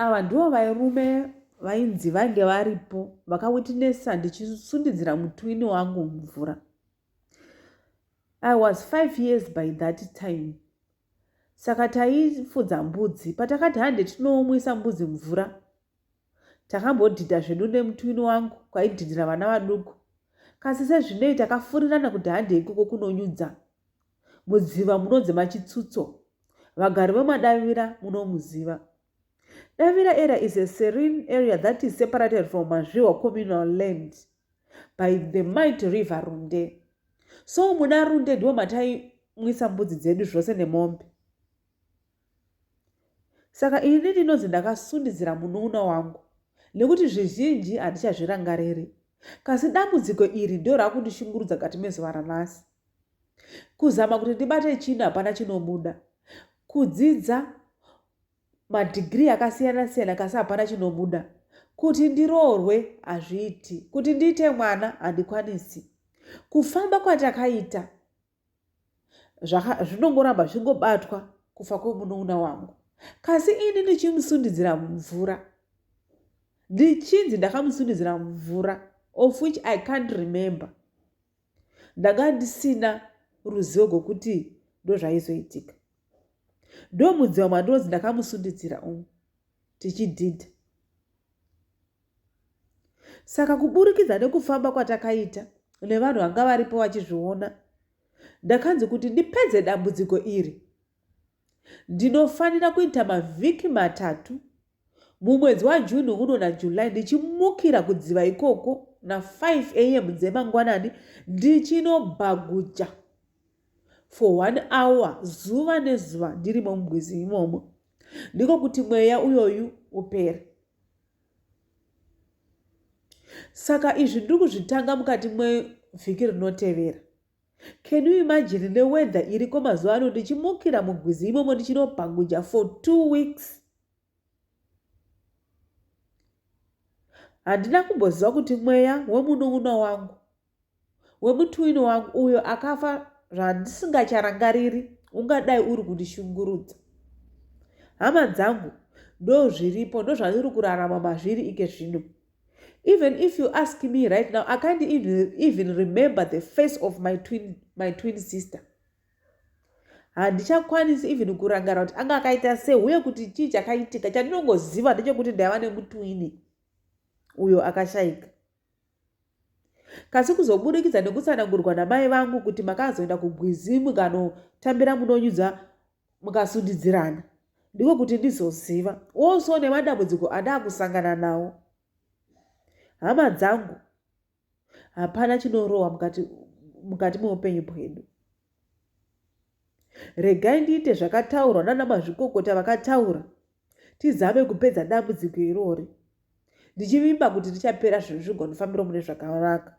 Ava ndivo vairume vainzi vange varipo vakawitnessa ndichisundidzira mutwini wangu mvura. I was five years by that time. Saka taifudza mbudzi. Patakati hande tinoomwisa mbudzi mvura, takambodhidha zvedu nemutwini wangu kwaidhidhira vana vaduku. Kasi sezvinei takafurirana kuti hande ikoko kunonyudza. Mudziva munonzi Machitsutso. Vagari veMadavira munomuziva. Davira area is a serene area that is separated from Mazviwa communal land by the might river Runde. So muna Runde ndiwo mataimwisa mbudzi dzedu zvose nemombe. Saka ini ndinonzi ndakasundidzira munoona wangu nekuti zvizhinji handichazvirangariri. Kasi dambudziko iri ndiro rakundishungurudza kati mezuva ranhasi. kuzama kuti ndibate chinhu hapana chinobuda kudzidza madhigirii akasiyana siyana kasi hapana chinobuda kuti ndiroorwe hazviiti kuti ndiite mwana handikwanisi kufamba kwatakaita zvinongoramba zvichingobatwa kufa kwemunouna wangu kasi ini ndichimusundidzira mumvura ndichinzi ndakamusundidzira mumvura of which i can't remember ndanga ndisina ruzivo rwekuti ndozvaizoitika ndomudziwa mwandinonzi ndakamusunditsira umu tichidhidha saka kuburikidza nekufamba kwatakaita nevanhu vanga varipo vachizviona ndakanzi kuti ndipedze dambudziko iri Ndinofanira kuita mavhiki matatu mumwedzi waJune uno naJuly ndichimukira kudziva ikoko na5 am dzemangwanani ndichinobhaguja for one hour zuva nezuva ndirimo mugwizi imomo ndiko kuti mweya uyoyu upere saka izvi ndiri kuzvitanga mukati mwevhiki rinotevera Can you imagine ne weather iriko mazuva ano ndichimukira mugwizi imomo ndichinobhanguja for two weeks. Handina kumboziva kuti mweya wemunun'una wangu wemutuwini wangu uyo akafa zvandisingacharangariri ungadai uri kundishungurudza. Hama dzangu ndozviripo ndozvandiri kurarama mazviri ike zvino. Even if you ask me right now, I can't even remember the face of my twin, my twin sister. handichakwanisi even kurangara kuti anga akaita sei uye kuti chii chakaitika chandinongoziva ndechekuti ndaiva nemutwini uyo akashaika kasi kuzobudikidza nekutsanangurwa namai vangu kuti makazoenda kugwizimu kanotambira munonyudza mukasundidzirana ndiko kuti ndizoziva also nemadambudziko andakusangana nawo hama dzangu hapana chinorohwa mukati mukati meupenyu bwedu regai ndiite zvakataurwa nana mazvikokota vakataura tizame kupedza dambudziko irori ndichivimba kuti richapera zvinhu zvigonofambiro mune zvakanaka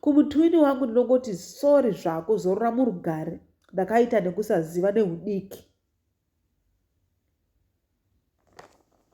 kumutwini wangu ndinongoti sori zvako zorora murugare ndakaita nekusaziva neudiki